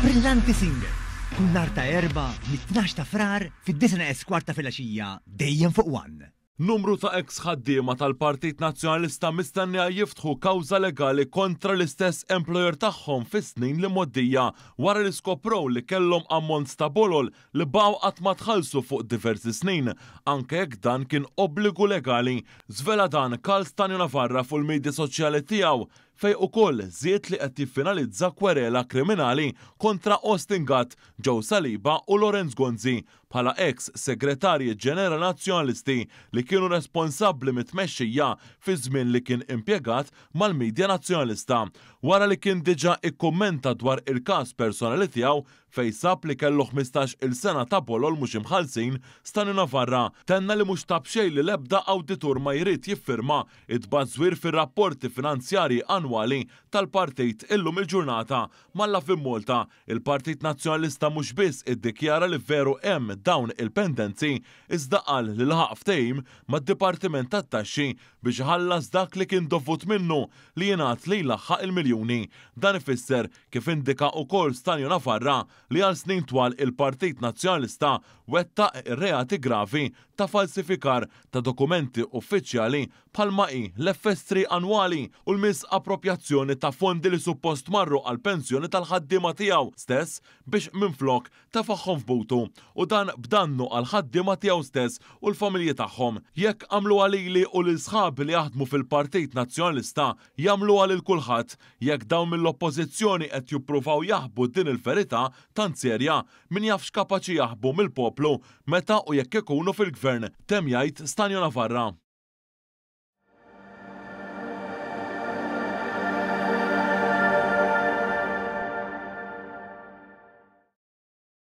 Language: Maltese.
Brillanti Singer, kull nhar ta' Erbgħa mit-tnax ta' Frar fid-disna esquart ta' filgħaxija dejjem fuq one. Numru ta' eks ħaddiema tal-Partit Nazzjonalista mistennija jiftħu kawża legali kontra l-istess employer tagħhom fis-snin li mgħoddija wara li skoprow li kellhom ammonts ta' bolol li baqgħu qatt ma tħallsu fuq diversi snin anke jekk dan kien obbligu legali. Żvela dan Karl Stanio Navarra fuq il-midja soċjali tiegħu fejn ukoll żied li qed jiffinalizza kwerela kriminali kontra Austin Gatt, Joe Saliba u Lawrence Gonzi bħala eks Segretarji Ġenerali Nazzjonalisti li kienu responsabbli mit-tmexxija fiż-żmien li kien impjegat mal-midja Nazzjonalista wara li kien diġà ikkummenta dwar il-każ personali tiegħu fejn sab li kellu ħmistax-il sena ta' bolol mhux imħallsin, Stani Navarra tenna li mhux ta' b'xejn li l-ebda awditur ma jrid jiffirma t-tbażwir fir-rapporti finanzjarji annwali tal-partit illum il-ġurnata malla fi Malta il-Partit Nazzjonalista mhux biss iddikjara li veru hemm dawn il-pendenzi iżda qal li laħaq ftehim mad-Dipartiment tat-Taxxi biex iħallas dak li kien dovut minnu li jingħad li jlaħħaq il-miljuni. Dan ifisser kif indika ukoll Stanlio Nafarra li għal snin twal il-Partit Nazzjonalista wettaq reati gravi ta' falsifikar ta' dokumenti uffiċjali bħalma hi l-FS3 annwali u l-miżapproprjazzjoni ta' fondi li suppost marru għall-pensjoni tal-ħaddiema tiegħu stess biex minflok tefagħhom f'butu u dan b'dannu għall-ħaddiema tiegħu stess u l-familji tagħhom. Jekk għamluha lili u lil sħabi li jaħdmu fil-Partit Nazzjonalista Jagħmluha lil kulħadd. Jekk dawn mill-Oppożizzjoni qed juppruvaw jaħbu din il-verità tant serja, min jaf x'kapaċi jaħbu mill-poplu meta u jekk ikunu fil-Gvern, temm jgħid Stanio Navarra.